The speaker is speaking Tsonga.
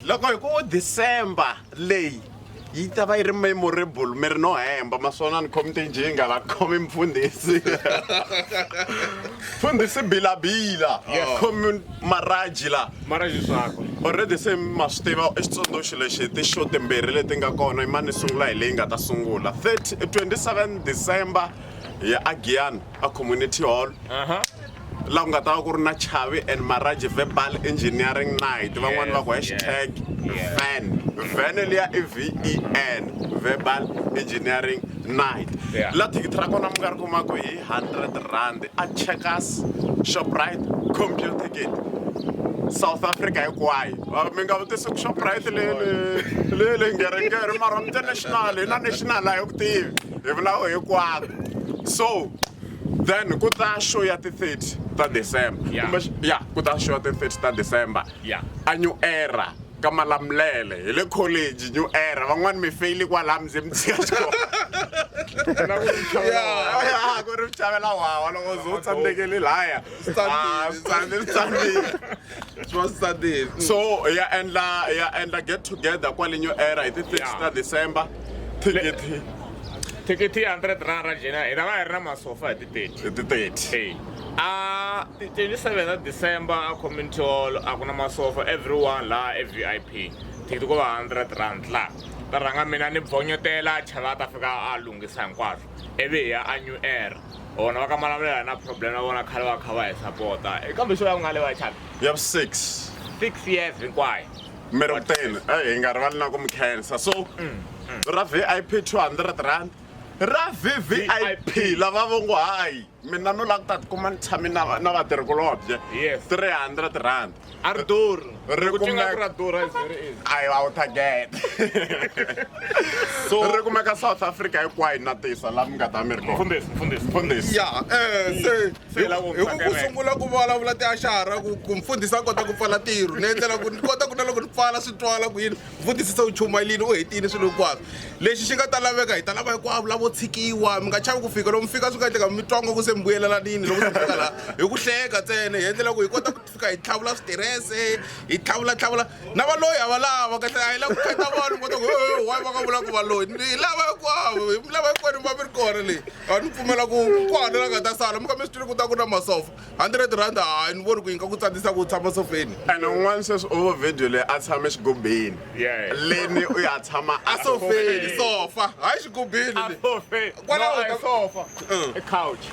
Loko hi ku December leyi yi ta va yi ri memorable mi ri no hemba maswona ni khomite njinga la khomi mfundhisi mfundhisi bilabila khomi maraji la maraji swakwe already se ma swi tiva i xitsundzuxi lexi ti-show timbirhi leti nga kona i mani sungula hi leyi nga ta sungula 30 27 december ya agiyani a community hall laha ku nga ta va ku ri na chavi and maraji verbal engineering night van'wani va ku hashtag van vene liya i ven verbal engineering night la thikithi ra kona mi nga ri kumaku hi 100 rand a checkers shoprite computer ticket south africa hinkwayo ah, mi nga vutisi ku shoprite lele lele ngeringeri mara international hi na national a hi ku tivi hi vulaku hinkwako so then ku ta show ya ti-30 ta december Yeah. kumbe xi- ya ku ta show ya ti-30 ta december Yeah. a new era ka malamulele hi le college new era van'wani mi feyile kwalaha mi ze mi tshika xikolo Ya, ku ri chavela wawa loko zo tsandzekele laya Standile. Ah, standile, standile. so ya endla ya endla get together kwale new era hi ti 30 ta december thikithi thikithi ya 100 rand ra jena hi ta va hi ri na masofa hi ti 30 hi ti 30 a 27 ta december a community hall a ku na masofa everyone laha e v i p thikithi ko va 100 rand laha ta rhanga mina ni bvonyotela chava ta fika a lunghisa hinkwaswo ivi hi ya a new era vona va ka malamulelo na problem na vona khale va kha va hi sapota eh, kambe xo ya ku nga le vachana ya vu six six years hinkwayo mi ri kuteni eh, hi nga rivali na ku mi khensa so mm, mm. ra vip 200 rand ra vvip lava vo ngo hayi mina no la ku ta tikuma ni tshame na vatirhikulobye 300 rand A ri durhi. Ri Loko ti nga kumeka- ri ra durha is very easy. I out again. So- Ri kumeka South Africa hinkwayo na tisa la mi nga ta mi ri kona. Mfundhisi, mfundhisi. Mfundhisi. ya eh, se Se hi la ku hi ku ku kereke. sungula ku vulavula tiaxara ku ku mfundhisi a kota ku pfala ntirho ni endlela ku ni kota ku na loko ni pfala swi twala ku yini mfundhisi se u chumayelini u hetile swilo hinkwaswo lexi xi nga ta laveka hi ta lava hinkwavo lavo tshikiwa mi nga chavi ku fika lomu fika swi nga endleka mi twa nga ku se mi vuyelelanini loko mi fika laha hi ku hleka ntsena hi endlela ku hi kota ku fika hi tlhavula switirese hi tlhavula tlhavula na valoyi a va lava kahle a hi lava ku khata vanhu kota ku wayi va nga vula ku valoyi ni hi lava hinkwavo hi mi lava hinkwenu va mi ri kona leyi a ni pfumela ku kwana la nga ta sala mi kha mi swi twile ku ta ku na masofa hundred rand hayi ni voni ku yi nga ku tsandisa ku tshama sofeni and un'wana sweswi ovo video leyi a tshame xigobeni leni u ya tshama a sofeni sofa hayi xigobeni kwalaho sofa couch